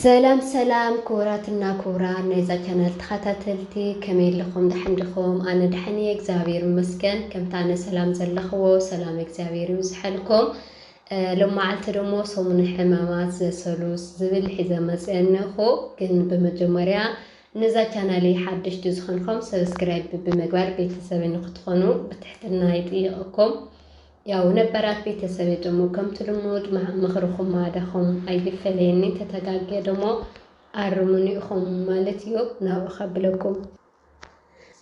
ሰላም ሰላም ክቡራትና ክቡራን ናይዛ ቻናል ተኻታተልቲ ከመይ ኣለኹም ዳሓን ዲኹም ኣነ ዳሓን እየ እግዚኣብሔር ይመስገን ከምቲ ኣነ ሰላም ዘለኽዎ ሰላም እግዚኣብሔር ይብዝሐልኩም ሎማዓልቲ ደሞ ሰሙነ ሕማማት ዘሰሉስ ዝብል ሒዘ መፅአ እነኹ ግን ብመጀመርያ ነዛ ቻናለይ ሓደሽቲ ዝኾንኩም ሰብስክራይብ ብምግባር ቤተሰበይ ንክትኾኑ ብትሕትና ይጥይቐኩም ያው ነበራት ቤተሰበ ደሞ ከምቲ ልሙድ ምኽርኹም ማዕዳኹም ኣይፈለየኒ ተተጋግየ ደሞ ኣርሙኒ ኢኹም ማለት እዩ ናብኡ ከብለኩም።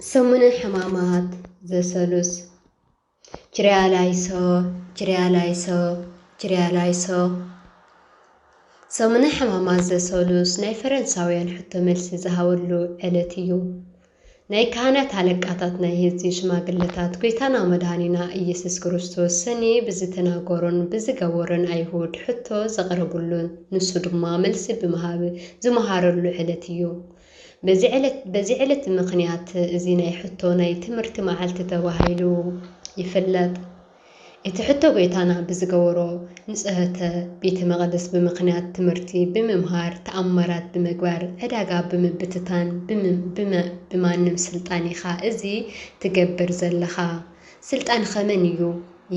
ሰሙነ ሕማማት ዘሰሉስ ችርያ ላይሶ ችርያ ላይሶ ችርያ ላይሶ ሰሙነ ሕማማት ዘሰሉስ ናይ ፈረንሳውያን ሕቶ መልሲ ዝሃበሉ ዕለት እዩ። ናይ ካህናት ኣለቃታት ናይ ህዝቢ ሽማግለታት ጎይታና መድኃኒና ኢየሱስ ክርስቶስ ሰኒ ብዝተናገሮን ብዝገበሮን ኣይሁድ ሕቶ ዘቕረብሉን ንሱ ድማ መልሲ ብምሃብ ዝመሃረሉ ዕለት እዩ በዚ ዕለት በዚ ዕለት ብምኽንያት እዚ ናይ ሕቶ ናይ ትምህርቲ መዓልቲ ተባሂሉ ይፍለጥ። እቲ ሕቶ ጎይታና ብዝገበሮ ንጽህተ ቤተ መቅደስ ብምክንያት ትምህርቲ ብምምሃር ተኣምራት ብምግባር ዕዳጋ ብምብትታን ብምም ብማንም ስልጣን ኢካ እዚ ትገብር ዘለካ ስልጣንከ መን እዩ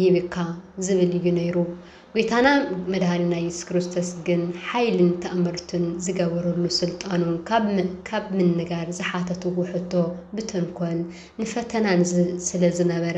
ይህብካ ዝብል እዩ ነይሩ ጎይታና መድሃኒና የሱስ ክርስቶስ ግን ሓይልን ተእምርቱን ዝገበረሉ ስልጣኑ ካብ ካብ ምንጋር ዝሓተትዎ ሕቶ ብተንኮል ንፈተናን ስለዝነበረ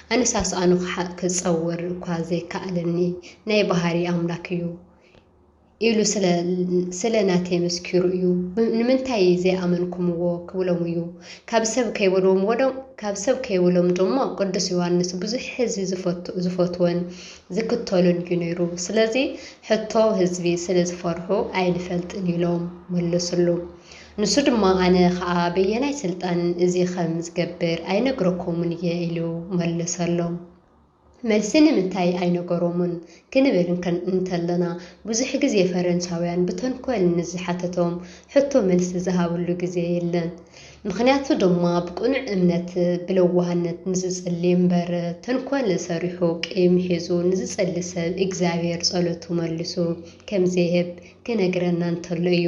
ኣነ ሳስኣኑ ክሓ ክጸወር እኳ ዘይከኣለኒ ናይ ባህሪ ኣምላክ እዩ ኢሉ ስለ ስለ ናተይ መስኪሩ እዩ ንምንታይ ዘይኣመንኩምዎ ክብሎም እዩ ካብ ሰብ ከይበሎም ወዶ ካብ ሰብ ከይበሎም ደሞ ቅዱስ ዮሃንስ ብዙሕ ህዝቢ ዝፈቱ ዝፈትወን ዝክተሉን እዩ ነይሩ ስለዚ ሕቶ ህዝቢ ስለ ዝፈርሑ ኣይንፈልጥን ኢሎም መለስሉ ንሱ ድማ ኣነ ኸኣ በየናይ ስልጣን እዚ ኸም ዝገብር ኣይነግረኩምን እየ ኢሉ መለሰሎም። መልሲ ንምንታይ ኣይነገሮምን ክንብል እንተለና ብዙሕ ግዜ ፈረንሳውያን ብተንኮል ንዝሓተቶም ሕቶ መልሲ ዝሃብሉ ግዜ የለን። ምኽንያቱ ድማ ብቅኑዕ እምነት ብለዋህነት ንዝጽሊ እምበር ተንኮል ሰሪሑ ቂም ሒዙ ንዝጸሊ ሰብ እግዚኣብሔር ጸሎቱ መልሱ ከም ዘይህብ ክነግረና እንተሎ እዩ።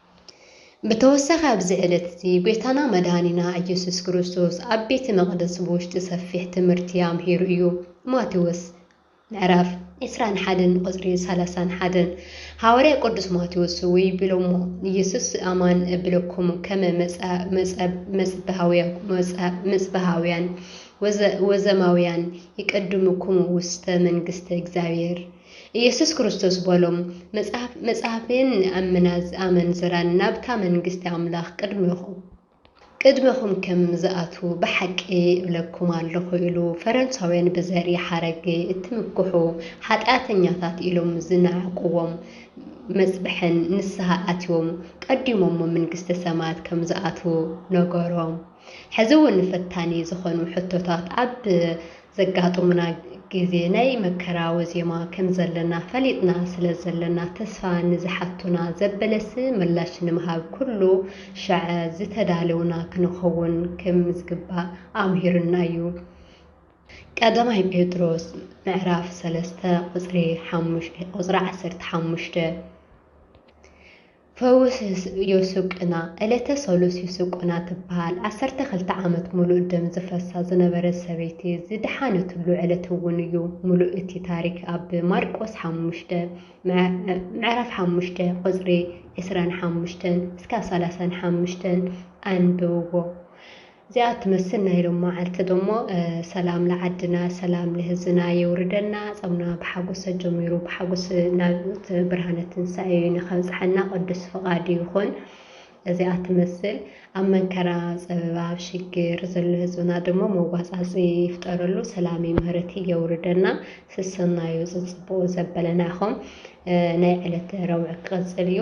ብተወሳኺ ኣብዚ ዕለት እዚ ጎይታና መድኃኒና ኢየሱስ ክርስቶስ ኣብ ቤተ መቅደስ ብውሽጢ ሰፊሕ ትምህርቲ ኣምሂሩ እዩ። ማቴዎስ ምዕራፍ ዕስራን ሓደን ቁጽሪ ሰላሳን ሓደን ሃዋርያ ቅዱስ ማቴዎስ እውይ ቢሎሞ ኢየሱስ ኣማን እብለኩም ከመ መጽብሃውያን ወዘማውያን ይቀድሙኩም ውስተ መንግሥተ እግዚኣብሔር ኢየሱስ ክርስቶስ በሎም፣ መጽሐፍ መጽሐፌን ንኣምና ኣመንዝራን ናብታ መንግስቲ ኣምላኽ ቅድሜኹም ቅድሜኹም ከም ዝኣትዉ ብሓቂ እብለኩም ኣለኹ ኢሉ ፈረንሳውያን ብዘርኢ ሓረግ እትምክሑ ሓጢኣተኛታት ኢሎም ዝነዓቅዎም መጽብሐን ንስሃ ኣትዮም ቀዲሞሞ መንግስተ ሰማያት ከም ዝኣትዉ ነገሮም። ሕዚ እውን ፈታኒ ዝኾኑ ሕቶታት ኣብ ዘጋጥሙና ግዜ ናይ መከራዊ ዜማ ከም ዘለና ፈሊጥና ስለ ዘለና ተስፋ ንዝሓቱና ዘበለስ ምላሽ ንምሃብ ኩሉ ሻዕ ዝተዳለውና ክንኸውን ከም ዝግባእ ኣምሂሩና እዩ። ቀዳማይ ጴጥሮስ ምዕራፍ ሰለስተ ቁጽሪ ዓሰርተ ሓሙሽተ። ፈውስ ዮሱቅና፣ ዕለተ ሰሉስ ዩሱቁና ትበሃል ዓሰርተ ክልተ ዓመት ምሉእ ደም ዝፈሳ ዝነበረት ሰበይቲ ዝደሓነትሉ ዕለት እውን እዩ። ምሉእ እቲ ታሪክ ኣብ ማርቆስ ሓሙሽተ ምዕራፍ ሓሙሽተ ቁፅሪ ዕስራን ሓሙሽተን እስካብ ሰላሳን ሓሙሽተን ኣንብብዎ። እዚኣ ትመስል ናይ ሎም መዓልቲ ደሞ ሰላም ልዓድና ሰላም ልህዝና የውርደና ጾምና ብሓጎስ ኣጀሚሩ ብሓጎስ ናብ ብርሃነ ትንሳኤ ንከብጽሓና ቅዱስ ፍቃዱ ይኹን። እዚኣ ትመስል ኣብ መንከራ ጸበባ ኣብ ሽግር ዘሎ ህዝብና ደሞ መዋጻጺ ይፍጠረሉ ሰላሚ ምህረቲ የውርደና ስሰናዩ ጽጽቡቁ ዘበለና ኢኹም ናይ ዕለት ረቡዕ ክቅጽል እዩ።